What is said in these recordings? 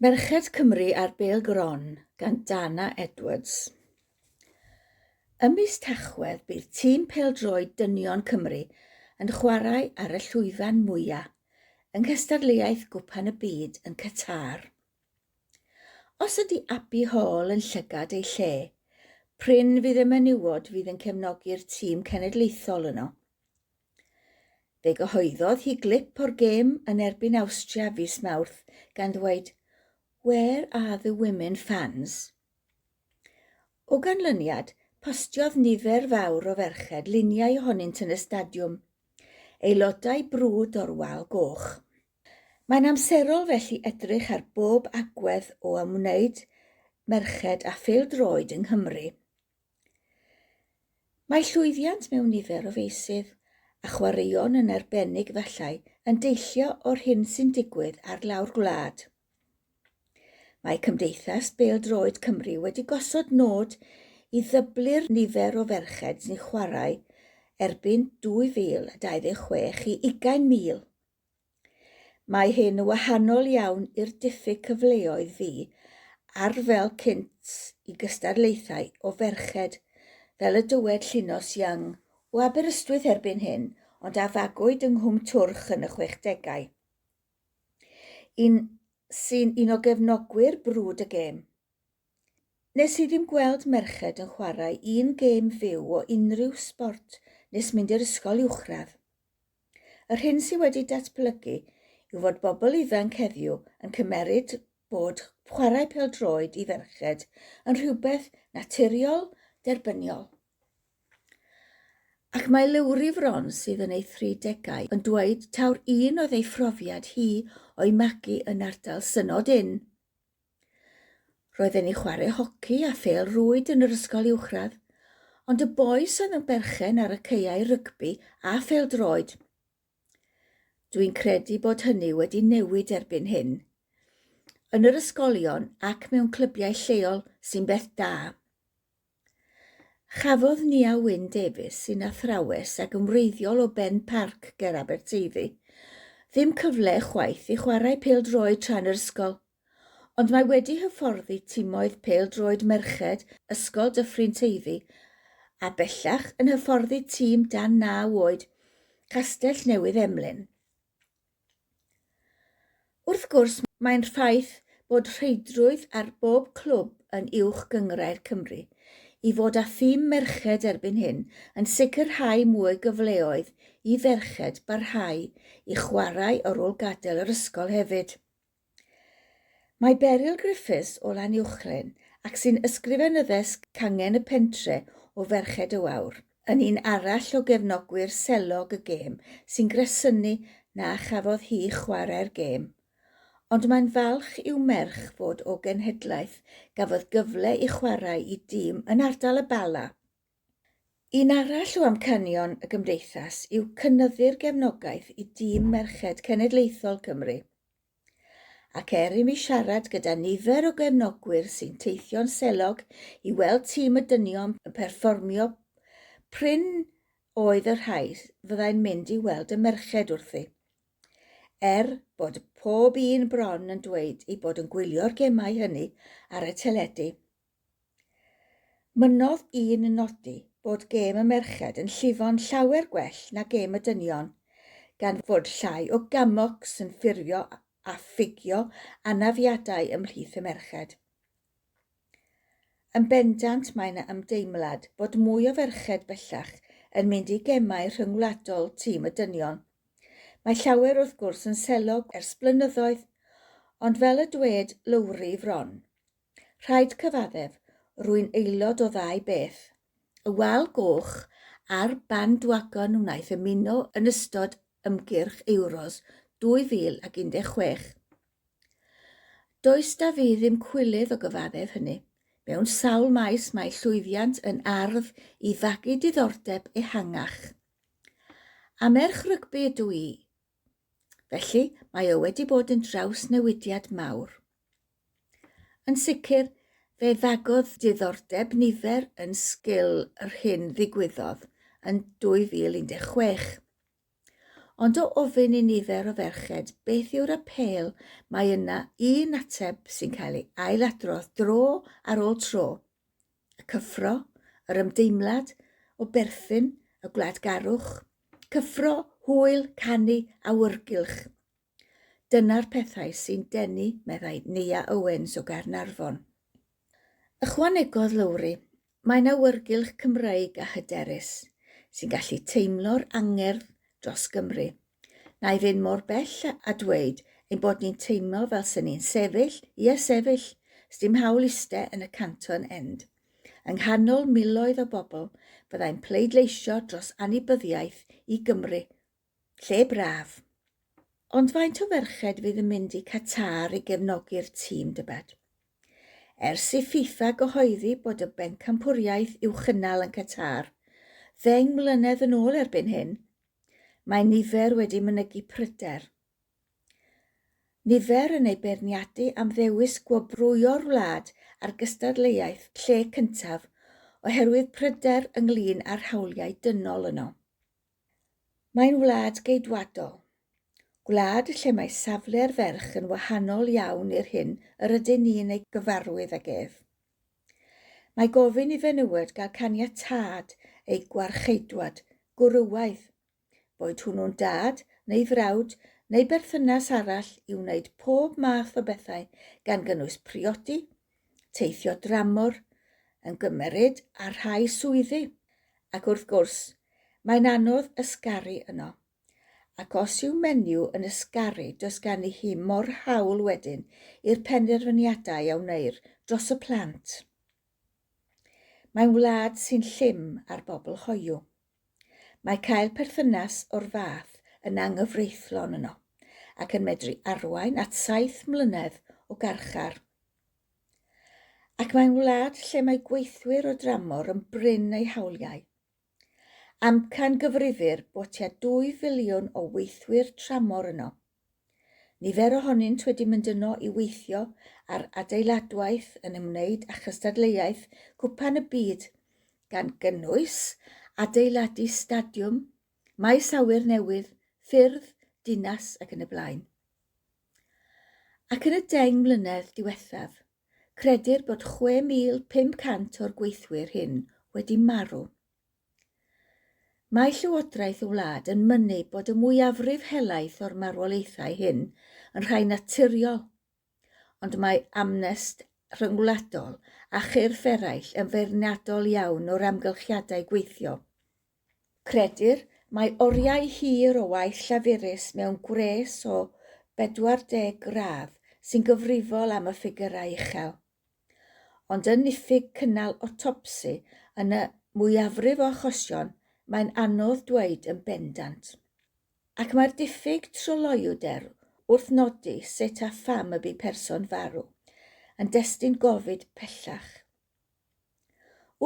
Merched Cymru ar Bêl Gron gan Dana Edwards. Ym mis Tachwedd bydd tîm pêl-droed dynion Cymru yn chwarae ar y llwyfan mwyaf yng nghystadleuaeth Gwpan y Byd yn Qatar. Os ydy Abby Hall yn llygad ei lle, prin fydd y menywod fydd yn cefnogi'r tîm cenedlaethol yno. Fe gyhoeddodd hi glip o'r gêm yn erbyn Awstria fis Mawrth gan ddweud Where are the women fans? O ganlyniad, postiodd nifer fawr o ferched luniau ohonynt yn y stadiwm, aelodau brwd o'r Wal Goch. Mae'n amserol felly edrych ar bob agwedd o ymwneud merched â phêl-droed yng Nghymru. Mae llwyddiant mewn nifer o feysydd, a chwaraeon yn arbennig efallai, yn deillio o'r hyn sy'n digwydd ar lawr gwlad. Mae Cymdeithas Bêl-droed Cymru wedi gosod nod i ddyblu'r nifer o ferched sy'n chwarae erbyn 2026 i ugain mil. Mae hyn yn wahanol iawn i'r diffyg cyfleoedd fu ar fel cynt i gystadlaethau o ferched, fel y dywed Llinos Young, o Aberystwyth erbyn hyn, ond a fagwyd yng Nghwm Twrch yn y chwechdegau. Un sy'n un o gefnogwyr brwd y gêm. Nes i ddim gweld merched yn chwarae un gêm fyw o unrhyw sbort nes mynd i'r ysgol uwchradd. Yr hyn sydd wedi datblygu yw fod bobl ifanc heddiw yn cymeryd bod chwarae pêl-droed i ferched yn rhywbeth naturiol, derbyniol. Ac mae Leury Fron sydd yn ei thridegau yn dweud taw'r un oedd ei phrofiad hi o'i magu yn ardal Synod Ynn, Roedd e'n i chwarae hoci a phêl rwyd yn yr ysgol uwchradd, ond y bois oedd yn berchen ar y caeau rygbi a phêl-droed. Dwi'n credu bod hynny wedi newid erbyn hyn. Yn yr ysgolion ac mewn clybiau lleol sy'n beth da. Chafodd Nia Wyn Davies, sy'n athrawes ac yn wreiddiol o Ben Parc ger Aberteifi, ddim cyfle chwaith i chwarae pêl-droed tra'n yr ysgol, ond mae wedi hyfforddi timoedd pêl-droed merched Ysgol Dyffryn Teifi a bellach yn hyfforddi tîm dan naw oed Castell Newydd Emlyn. Wrth gwrs, mae'n rhaid bod rheidrwydd ar bob clwb yn Uwch Gynghrair Cymru. I fod â thîm merched erbyn hyn yn sicrhau mwy gyfleoedd i ferched barhau i chwarae ar ôl gadael yr ysgol hefyd. Mae Beryl Griffiths o Lanuwchllyn, ac sy'n ysgrifenyddes cangen y pentre o Ferched y Wawr, yn un arall o gefnogwyr selog y gêm sy'n gresynu na chafodd hi chwarae'r gêm. Ond mae'n falch i'w merch fod o genhedlaeth gafodd gyfle i chwarae i dîm yn ardal y Bala. Un arall o amcanion y Gymdeithas yw cynyddu'r gefnogaeth i dîm merched cenedlaethol Cymru. Ac er i mi siarad gyda nifer o gefnogwyr sy'n teithio'n selog i weld tîm y dynion yn perfformio, prin oedd y rhai fyddai'n mynd i weld y merched wrthi. Er bod pob un bron yn dweud ei bod yn gwylio'r gemau hynny ar y teledu. Mynnodd un yn nodi bod gêm y merched yn llifo'n llawer gwell na gêm y dynion, gan fod llai o gamocs yn ffurfio a ffugio anafiadau ymhlith y merched. Yn bendant mae 'na ymdeimlad bod mwy o ferched bellach yn mynd i gemau rhyngwladol tîm y dynion. Mae llawer wrth gwrs yn selog ers blynyddoedd, ond fel y dwed Lowri Fron, Rhaid cyfaddef, rwy'n aelod o ddau beth, y wal goch a'r bandwagon wnaeth ymuno yn ystod ymgyrch Euros 2016. Does 'da fi ddim cwilydd o gyfaddef hynny. Mewn sawl maes mae llwyddiant yn ardd i fagu diddordeb ehangach. A merch rygbi ydw i, Felly, mae o wedi bod yn drawsnewidiad mawr. Yn sicr, fe ddagodd diddordeb nifer yn sgil yr hyn ddigwyddodd yn 2016. Ond o ofyn i nifer o ferched beth yw'r apêl mae yna un ateb sy'n cael ei ailadrodd dro ar ôl tro, y cyffro, yr ymdeimlad o berthyn, y gwladgarwch, cyffro, hwyl, canu, awyrgylch. Dyna'r pethau sy'n denu, meddai Nia Owens o Gaernarfon. Ychwanegodd Lowri, Mae'n awyrgylch Cymreig a hyderus, sy'n gallu teimlo'r angerdd dros Gymru. Na i fynd mor bell a dweud ein bod ni'n teimlo fel sy'n ni'n sefyll, ie sefyll, sdim hawl iste yn y Canton End. Yng nghanol miloedd o bobl, fyddai'n pleidleisio dros anybyddiaeth i Gymru. Lle braf. Ond faint o ferched fydd yn mynd i Qatar i gefnogi'r tîm, dybed? Ers i FIFA gyhoeddi bod y bencampwriaeth i'w chynnal yn Qatar, ddeng mlynedd yn ôl erbyn hyn, Mae nifer wedi mynegi pryder. Nifer yn ei beirniadu am ddewis gwobrwyo'r wlad a'r gystadleuaeth lle cyntaf oherwydd pryder ynglŷn â'r hawliau dynol yno. Mae'n wlad geidwadol. Gwlad lle mae safle'r ferch yn wahanol iawn i'r hyn yr ydyn ni'n ei gyfarwydd ag ef. Mae gofyn i fenywod gael caniatâd eu gwarcheidwad, gwrywaidd, boed hwnnw'n dad neu frawd neu berthynas arall i wneud pob math o bethau gan gynnwys priodi, teithio dramor, yn gymeryd ar rhai swyddi, ac wrth gwrs, mae'n anodd ysgaru yno. Ac os yw menyw yn ysgaru does ganddi hi mo'r hawl wedyn i'r penderfyniadau a wneir dros y plant. Mae'n wlad sy'n llym ar bobl hoyw. Mae cael perthynas o'r fath yn anghyfreithlon yno, ac yn medru arwain at saith mlynedd o garchar. Ac mae'n wlad lle mae gweithwyr o dramor yn brin eu hawliau. Amcangyfrifir bod tua 2 filiwn o weithwyr tramor yno. Nifer ohonynt wedi mynd yno i weithio ar adeiladwaith yn ymwneud â chystadleuaeth Cwpan y Byd, gan gynnwys adeiladu stadiwm, maes awyr newydd, ffyrdd, dinas ac yn y blaen. Ac yn y deng mlynedd diwethaf, Credir bod 6,500 o'r gweithwyr hyn wedi marw. Mae Llywodraeth y wlad yn mynnu bod y mwyafrif helaeth o'r marwolaethau hyn yn rhai naturiol, ond mae amnest rhyngwladol a chyrff eraill yn feirniadol iawn o'r amgylchiadau gweithio. Credir mai oriau hir o waith llafurus mewn gwres o 40 gradd sy'n gyfrifol am y ffigyrau uchel. Ond yn niffyg cynnal otopsi yn y mwyafrif o achosion, mae'n anodd dweud yn bendant. Ac mae'r diffyg tryloywder wrth nodi sut a pham y bu person farw yn destun gofid pellach.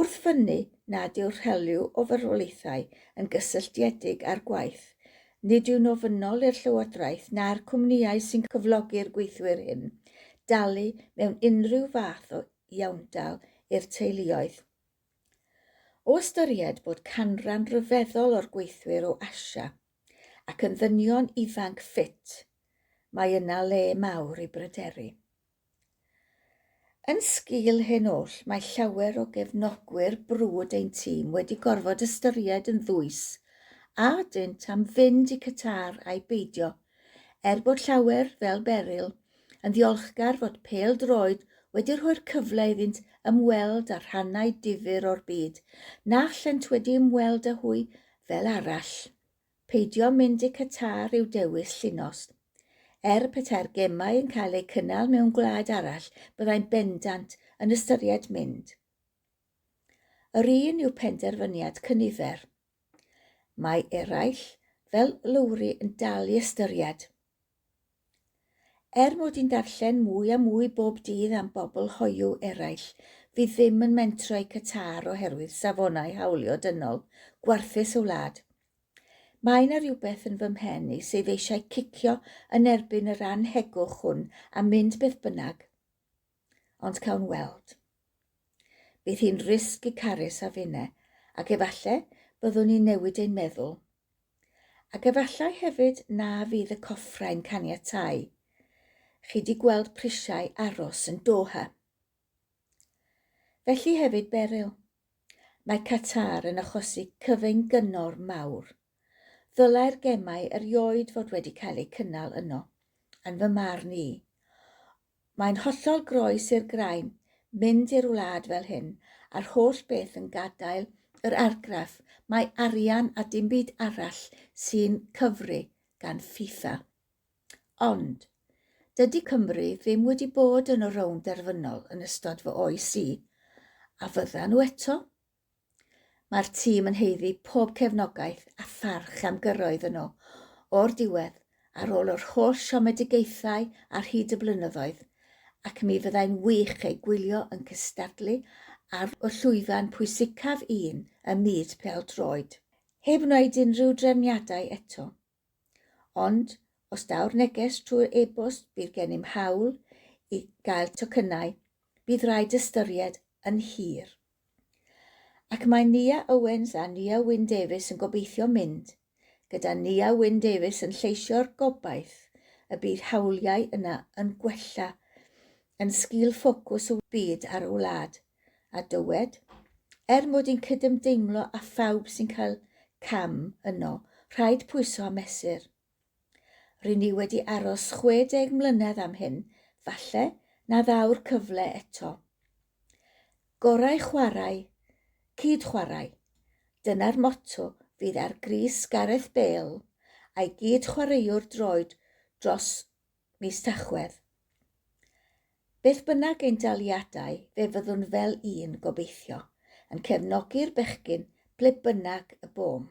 Wrth fynnu nad yw'r rhelyw o farwolaethau yn gysylltiedig â'r gwaith, nid yw'n ofynnol i'r Llywodraeth na'r cwmnïau sy'n cyflogi'r gweithwyr hyn dalu mewn unrhyw fath o iawndal i'r teuluoedd. O ystyried bod canran ryfeddol o'r gweithwyr o Asia ac yn ddynion ifanc ffit, mae yna le mawr i bryderu. Yn sgil hyn oll, mae llawer o gefnogwyr brwd ein tîm wedi gorfod ystyried yn ddwys a dynt am fynd i Qatar ai beidio, er bod llawer, fel Beryl, yn ddiolchgar fod pêl-droed wedi rhoi'r cyfle iddynt ymweld â rhannau difyr o'r byd na allent wedi ymweld â hwy fel arall. Peidio mynd i Qatar yw dewis Llinos. Er petai'r gemau yn cael eu cynnal mewn gwlad arall, byddai'n bendant yn ystyried mynd. Yr un yw penderfyniad cynifer. Mae eraill, fel Lowri, yn dal i ystyried. Er mod i'n darllen mwy a mwy bob dydd am bobl hoyw eraill fydd ddim yn mentro eu Qatar oherwydd safonau hawlio dynol gwarthus y wlad, mae 'na rywbeth yn fy mhen i sydd eisiau cicio yn erbyn yr annhegwch hwn a mynd beth bynnag. Ond cawn weld. Bydd hi'n risg i Carys a finne, ac efallai byddwn ni'n newid ein meddwl. Ac efallai hefyd na fydd y coffrau'n caniatáu chi di gweld prisiau aros yn Doha. Felly hefyd Beryl. Mae Qatar yn achosi cyfyng gyngor mawr. Ddylai'r gemau erioed fod wedi cael eu cynnal yno, yn fy marn i. Mae'n hollol groes i'r graen mynd i'r wlad fel hyn, a'r holl beth yn gadael yr argraff mai arian a dim byd arall sy'n cyfri gan FIFA. Ond, dydy Cymru ddim wedi bod yn y rownd derfynol yn ystod fy oes i, a fyddan nhw eto? Mae'r tîm yn haeddu pob cefnogaeth a pharch am gyrraedd yno o'r diwedd ar ôl yr holl siomedigaethau ar hyd y blynyddoedd, ac mi fyddai'n wych eu gwylio yn cystadlu ar y llwyfan pwysicaf un ym myd pêl-droed. Heb wneud unrhyw drefniadau eto. Ond, os daw'r neges trwy'r e-bost bydd gennym hawl i gael tocynnau, bydd rhaid ystyried yn hir. Ac mae Nia Owens a Nia Wyn Davies yn gobeithio mynd, gyda Nia Wyn Davies yn lleisio'r gobaith y bydd hawliau yna yn gwella yn sgil ffocws y byd ar y wlad. a dywed, Er mod i'n cydymdeimlo â phawb sy'n cael cam yno, rhaid pwyso a mesur. Ry'n ni wedi aros 60 mlynedd am hyn, falle na ddaw'r cyfle eto. Gorau chwarae, cyd-chwarae. Dyna'r motto fydd ar grys Gareth Bale a'i gyd-chwaraewr droed dros mis Tachwedd. Beth bynnag ein daliadau, fe fyddwn fel un, gobeithio, yn cefnogi'r bechgyn ble bynnag y bom.